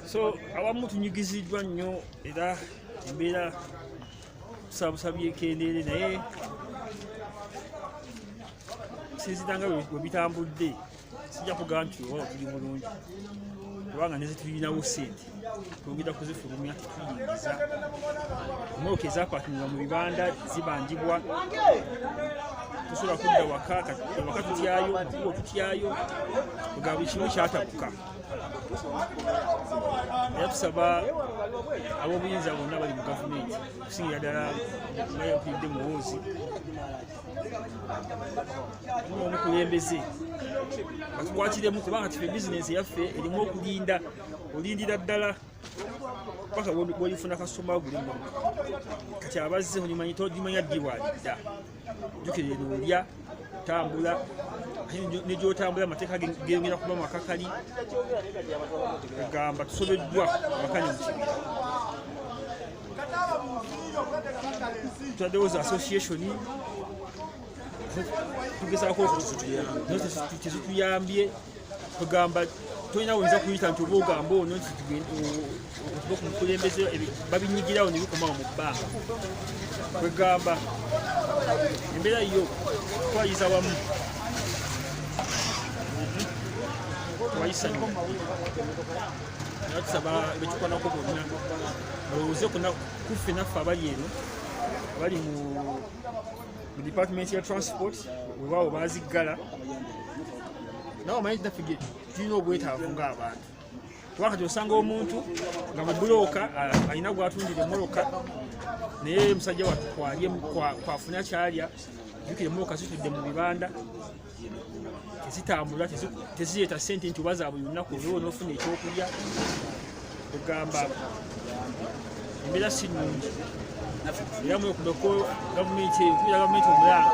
so awamu tunyigiziddwa nnyo era embeera tusaabusabye ekendeere naye sinzira nga webitambudde sijja kugamba nti oba tuli bulungi kubanga nezitulinawo sente twongera kuzifulumya tetuyingiza motoka ezapakinga mu bibanda zibanjibwa tusobola kudda waka waka tutyayo mukubo tutyayo nga buli kimu kyatabuka era tusaba ab'obuyinza bonna bali mu gavumenti okusingira ddala nga yakulidde muwoozi omukulembeze batukwatiremu kubanga kife bizinensi yaffe erimu okulinda olindira ddala paka bwolifuna kasitoma gulimu kati abazze olimanya togimanya ddi bwalidda jukira eno olya tambula negyotambula amateeka geyongera kuba makakali egamba tusobeddwa wakane mukibira twaddewo za association tugezaako okutuyambye kugamba tolina woyinza kuyita nti oba ogamba ono nti okuba ku mukulembeze babinyigirawo nebikomawo mu bbanga kwegamba embeera yo twayiza wamu twayisanyo natusaba bekikwanako bonna balowooze kuffe naffe abali eno abali mu department ya transport wewaawo baziggala nawe omanyi tinaffe tulina obwetaavu ng'abantu wakati osanga omuntu nga mubulooka alina gwatundira emoloka naye musajja watu kwafuna kyalya jukire emoloka zitudde mu bibanda tezitambula tezireeta sente nti oba zabuli lunaku olwowo nofuna ekyokulya ogamba embeera si nungi era mwekumeko gavumenti eyo kubira gavumenti omulanga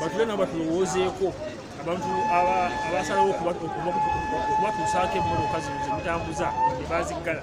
batule nabo batulowoozeeko abantu abasalawo okubatuusaako emmoloka zino zemutambuza nebaziggala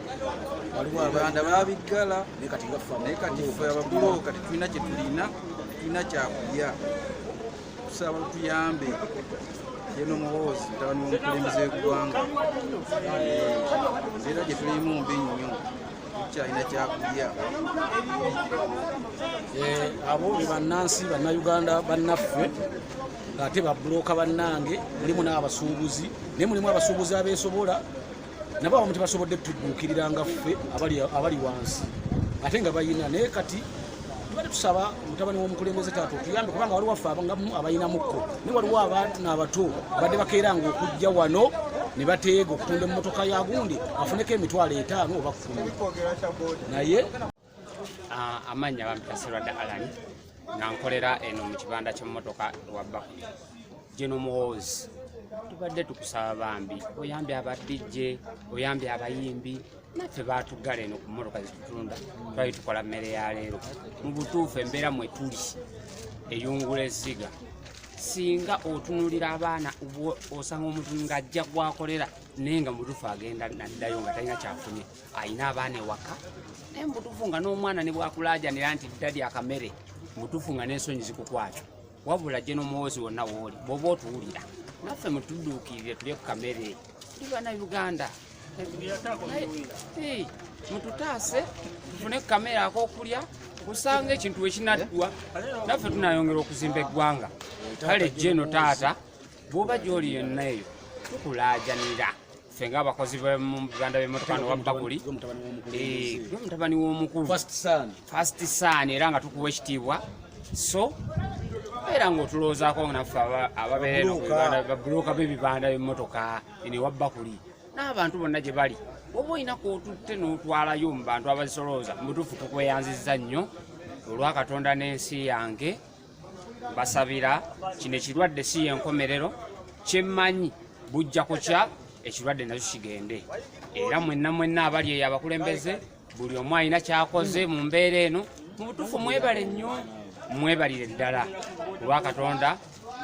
rwanda babiggala naye kati fe ababulooka tetulina kyetulina tetulina kyakulya tusaba tuyambe yeno muhoozi mutabani womukulembeze wegwanga era gyetulimu mbi nnyo tukyalina kyakulya eh, abo be bannansi bannayuganda bannaffe ate babuloka bannange mulimu n'abasuubuzi naye mulimu abasuubuzi abeesobola nabo abamu tebasobodde tuduukirira nga ffe abali wansi ate nga bayina naye kati tubadde tusaba mutabani w'omukulembeze taata otuyambe kubanga waliwo affe abangamu abayinamukko naye waliwo abantu n'abato badde bakeera nga okujja wano ne bateega okutunda emmotoka ya gundi afuneko emitwalo etaano oba kkumi naye Ah, amannya bampita serwadda alani nga nkolera eno mu kibanda ky'emmotoka ewabba geno muhoozi tubadde tukusaba bambi oyambye abadijje oyambye abayimbi naffe baatuggala eno ku mmotoka zitutunda twali tukola mmere ya leero mu butuufu embeera mwe tuli eyungula ezziga singa otunulira abaana osanga omuntu ng'ajja gwakolera naye nga mutuufu agenda naddayo nga talina kyafunye alina abaana ewaka naye mubutuufu nga n'omwana ne bwakulajanira nti dadi akamere mubutuufu nga n'ensonyi zikukwata wabula gye n'omuwozi wonna wooli bwoba otuwulira naffe mutudduukirire tulye ku kamere tuli bana uganda mututaase tufune ku kamere akokulya kusanga ekintu wekinaddwa naffe tunayongera okuzimba eggwanga kale jeno taata bwoba gyoli yonna eyo tukulajanira ffe ng'abakozi b'oluganda b'emmotoka nowabbakuli mutabani w'omukulu fast son era nga tukuwa ekitiibwa so era ng'otulowoozaako naffe ababeera babuloka b'ebibanda b'emmotoka ene wabbakuli n'abantu bonna gye bali oba olina kwotutte n'otwalayo mu bantu abazisolooza mubutuufu tukweyanzizza nnyo olwa katonda n'ensi yange basabira kino ekirwadde si yenkomerero kyemmanyi bujja kukya ekirwadde nakyo kigende era mwenna mwenna abali eyo abakulembeze buli omu alina kyakoze mu mbeera eno mu butuufu mwebale nnyo mwebalire ddala olwa katonda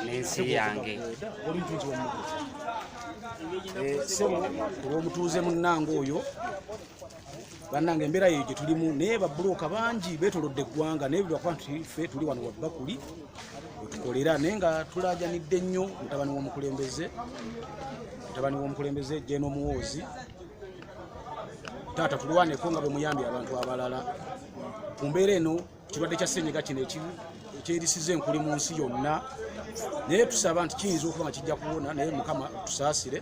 n'ensi yange eh, olwomutuuze munnange oyo bannange embeera yeyo gye tulimu naye babbulooka bangi beetolodde eggwanga naye bwebakuba nti ffe tuli wano wabbakuli wetukolera naye nga tulaajanidde nnyo mutabani w'omukulembeze mutabani w'omukulembeze jena omuwoozi taata tulwaneko nga bwe muyambye abantu abalala ku mbeera eno kirwadde kya senyiga kino ekyerisiza enkuli mu nsi yonna naye tusaba nti kiyinza okuba nga kijja kuwona naye mukama tusaasire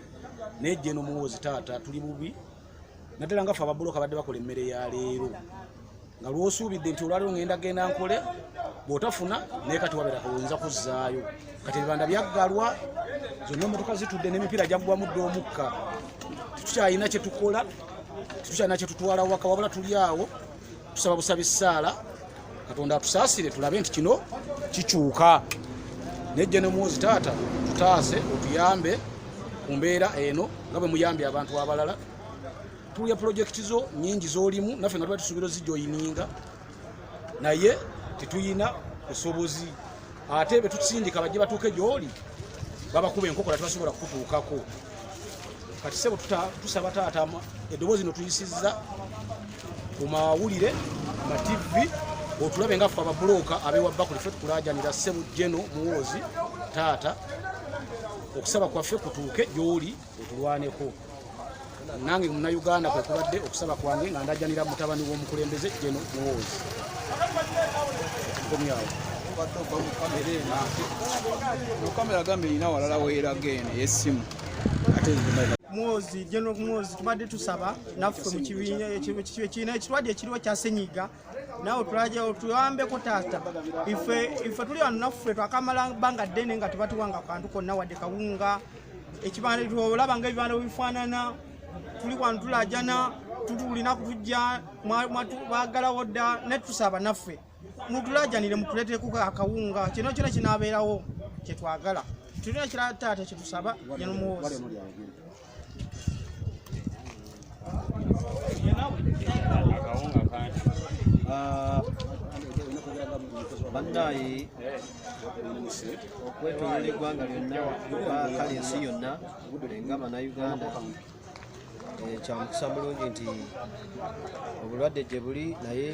naye jena omuwoozi taata tuli bubi naddala nga fe ababuloka badde bakola emmere ya leero nga lwosuubidde nti olwaliwo ngenda genda nkole bwotafuna naye kati wabeera kawoyinza kuzzaayo kati ebibanda byaggalwa zonna emotoka zitudde n'emipiira gyaggwamu dde omukka tetukyalina kyetukola tetukyalina kyetutwala waka wabula tuli awo tusaba busabi saala katonda atusaasire tulabe nti kino kikyuka nejja ne mwozi taata tutaase otuyambe ku mbeera eno nga bwe muyambye abantu abalala tuya pulojekiti zo nyingi zolimu naffe nga tuba tusuubira ozijoyininga naye tetuyina busobozi ate betusindika bajje batuuke gyoli babakuba enkokola tebasobola kukutuukako kati sebo tusaba taata eddoboozi no tuyisizza ku mawulire ma tv otulabe nga ffe ababulooka abewa bakuli fe tukulajanira ssebu jeno muwoozi taata okusaba kwaffe kutuuke gyoli otulwaneko nange munauganda kwekubadde okusaba kwange nga ndajanira mutabani w'omukulembeze jeno muwoozi komyawo kamera gambe erina walala weeraga eno eyessimu ate muwozi general muwozi tubadde tusaba naffe mu kibiina ekibiina ekirwadde ekiriwo kya senyiga nawe tulaja otuyambeko taata ife ife tuli wano naffe twakamala banga ddene nga tebatuwanga kantu konna wadde kawunga ekibanda tolaba nga ebibanda webifaanana tuli wano tulajana tutuulina kutujja bagalawo dda naye tusaba naffe mutulajanire mutuleteku akawunga kino kyona kinabeerawo kyetwagala tulina kirala taata kyetusaba yanomuwoozi bannaayi okwetolola eggwanga lyonna kale ensi yonna nga bannayuganda eh, kyamukisa mulungi nti obulwadde gye buli naye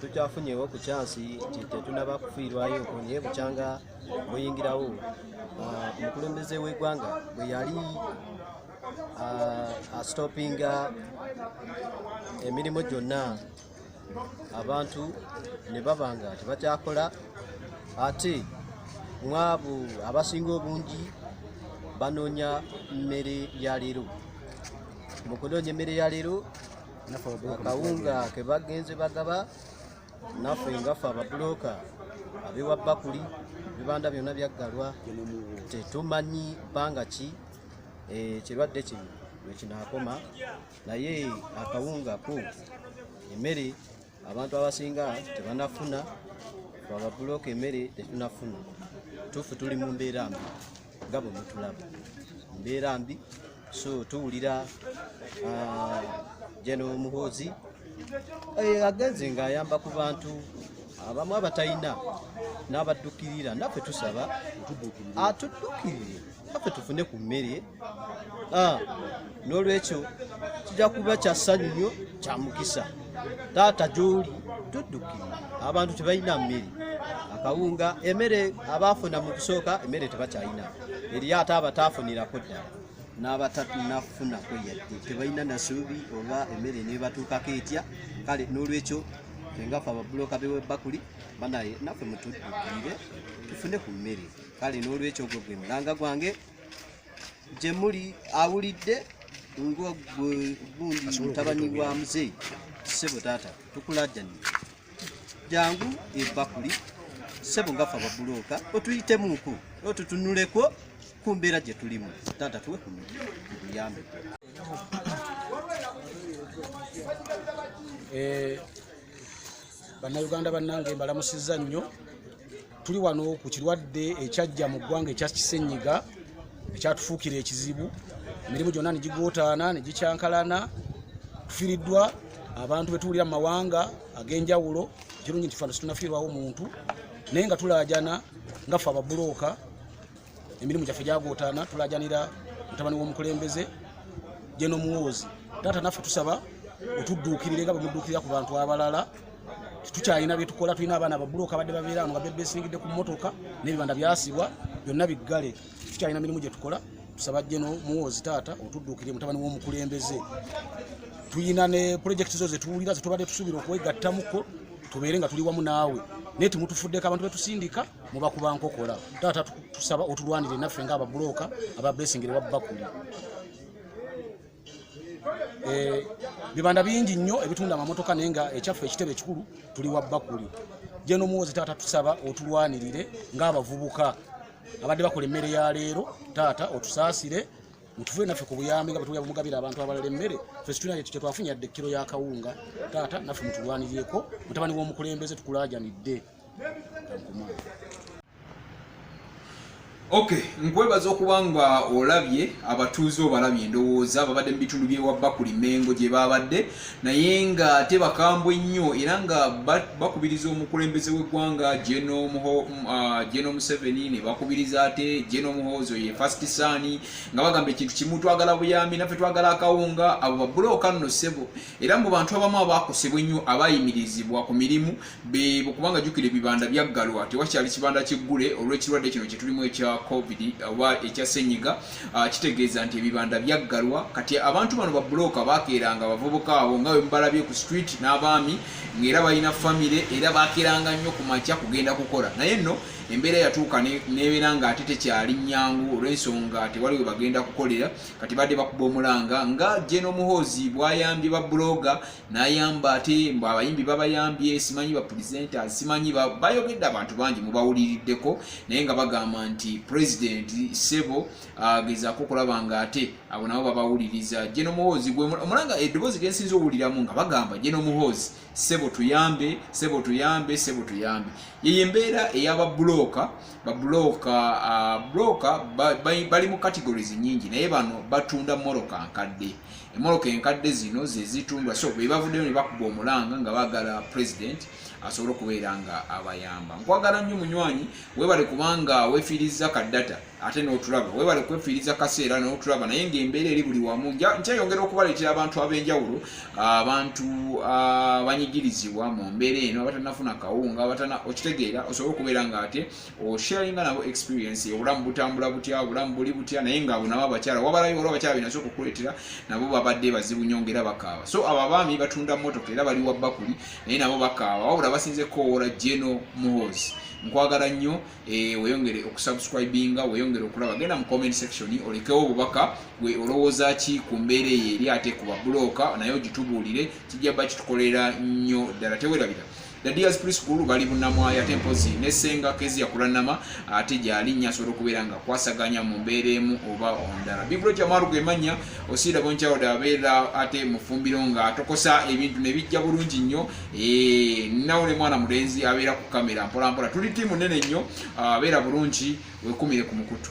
tukyafunyewo ku kyansi nti tetunaba kufiirwayo naye bukyanga muyingirawo ah, omukulembeze w'eggwanga bwe yali ah, astopinga emirimu gyonna abantu ne baba nga tebakyakola ate mwabo abasinga obungi banoonya mmere ya leero mu kunoonya emmere ya leero akawunga ke bagenze bagaba naffe ngaffe ababuloka abewa bakuli bibanda byonna byaggalwa tetumanyi bbanga ki ekirwadde eh, kino lwekinaakoma naye akawunga ko emmere abantu abasinga tebanafuna ababuloka emmere tetunafuna tufu tuli mu mbeera mbi nga bwe mutulaba mbeera mbi so tuwulira ah, jeno muhoozi eh, agenze ng'ayamba ku bantu abamu abatalina n'abaddukirira naffe tusaba atuddukirire naffe tufune ku mmere ah, n'olwekyo kijja kuba kya ssanyu nnyo kya mukisa taata gy'oli tudduki abantu tebalina mmere akawunga emere abaafuna mu kusooka emere tebakyalina eriyo ate abataafunirako ddala n'abatanafunako yadde tebalina nasuubi oba emere nebatuukako etya kale n'olwekyo engafe ababuloka bewebakuli banaye naffe mutuddukiire tufune ku mmere kale n'olwekyo ogwo gwe mulanga gwange gye muli awulidde nga gundi mutabani wa muzeeyi ssebo taata tukulajjani jangu ebakuli ssebo ngafa babulooka otuyitemuku otutunuleko ku mbeera gye tulimu taata tuwe ku buyambi eh, bannayuganda bannange mbalamusizza nnyo tuli wano ku kirwadde ekyajja mu ggwanga ekya kisenyiga ekyatufuukira ekizibu emirimu gyonna ne gigootaana ne gikyankalana tufiriddwa abantu betuwulira mu mawanga ag'enjawulo ekirungi nti fano situnafiirwawo muntu naye nga tulaajana nga fe ababulooka emirimu gyaffe gyagootaana tulajanira mutabani w'omukulembeze gye nomuwoozi taata naffe tusaba otudduukirire nga bwemudduukirira ku bantu abalala tukyalina byetukola tulina abaana babuloka badde babeera ano nga bebesingidde ku mmotoka n'ebibanda byasibwa byonna biggale tukyalina mirimu gye tukola tusaba gye nomuwoozi taata otudduukirire mutabani w'omukulembeze tulina ne pulojekiti zo zetuwulira zetubadde tusuubira okwegattamuko tubeere nga tuli wamu naawe naye temutufuddeko abantu betusindika muba kuba nkokola taata tusaba otulwanire naffe nga ababuloka aba blessing lewa bakuli eh, bibanda bingi nnyo ebitunda amamotoka naye nga ekyaffe ekitebe ekikulu tuli wa bakuli jeno muwozi taata tusaba otulwanirire ng'abavubuka abadde bakola emmere ya leero taata otusaasire mutuve naffe ku buyambi nga bwetuya bumugabira abantu abalala emmere fe situna kyetwafunya dde kiro ya kawunga taata naffe mutulwanirireko mutabani w'omukulembeze tukulajanidde ok nkwebaza okuba nga olabye abatuuze obalabye endowooza babadde mu bitundu byewabba ku limengo gye babadde naye nga ate bakambwe nnyo era nga bakubiriza omukulembeze w'eggwanga geno uh, museveni ne bakubiriza ate geno muhoozo ye fast sani nga bagamba ekintu kimu twagala buyambi naffe twagala akawunga abo babulooka nno ssebo era mu bantu abamu abakosebwa ennyo abayimirizibwa ku mirimu bebo kubanga jukira ebibanda byaggalwa tewakyali kibanda kiggule olw'ekirwadde kino kyetulimu ekya covid oba ekya senyiga ah, kitegeeza nti ebibanda byaggalwa kati abantu bano babuloka bakeeranga abavubuka abo nga wemubalabye ku street n'abaami ngaera balina famire era bakeeranga nnyo ku makya kugenda kukola naye nno embeera yatuuka nebeera nga ate tekyali nyangu olw'ensonga tewaliwe bagenda kukolera kati badde bakuba omulanga nga jenomuhoozi bwayambye babuloga nayamba ate mbu abayimbi babayambye simanyi bapresenta simanyi bayogedde abantu bangi mubawuliriddeko naye nga bagamba nti president sebo agezako okulaba nga ate abo nabo babawuliriza jeno muhoozi omulanga eddoboozi lyensinza owuliramu nga bagamba jeno muhoozi sebo tuyambe sebo tuyambe sebo tuyambe yeyo embeera eyababulooka babulooka bulooka bali mu categories nyingi naye bano batunda moroka nkadde emoloka enkadde zino zezitundwa so bebavuddeyo ne bakuba omulanga nga bagala president asobole okubeera nga abayamba nkwagala nnyo munywanyi webale kubanga wefiiriza kaddata ate n'otulaba webale kwefiiriza kaseera n'otulaba naye ngaembeera eri buli wamu nkyeyongera okubaleetera abantu ab'enjawulo abantu abanyigirizibwa mu mbeera eno abatanafuna kawunga okitegeera osobole okubeera nga ate osharinga nabo experience obulamu butambula butya obulamu buli butya naye nga abo nabo abakyala wabalayo waliwo abakyala binaso okukuleetera nabo babadde bazibu nyo ngaera bakaawa so abo abaami batunda motoka era bali wabbakuli naye nabo bakaawa wabula basinze kowoola geno muhozi nkwagala nnyo eh, weyongere okusubscribinga weyongere okulaba genda mu comment section olekewo obubaka gwe olowooza ki ku mbeera eyo eri ate ku babuloka naye ogitubuulire kijja ba kitukolera nnyo ddala tewerabira The Deers Preschool bali bunamwaya ate mpozi ne senga kezi ya kulanama ate jali nya soro kubera nga kwasaganya mu mbere mu oba ondara. Bibro cha maru ge manya osira boncha oda bela ate mufumbiro nga atokosa ebintu ne bijja bulungi nnyo eh nawe mwana mulenzi abera ku kamera mpola mpola tuli timu nene nnyo abera bulungi wekumire ku mukutu.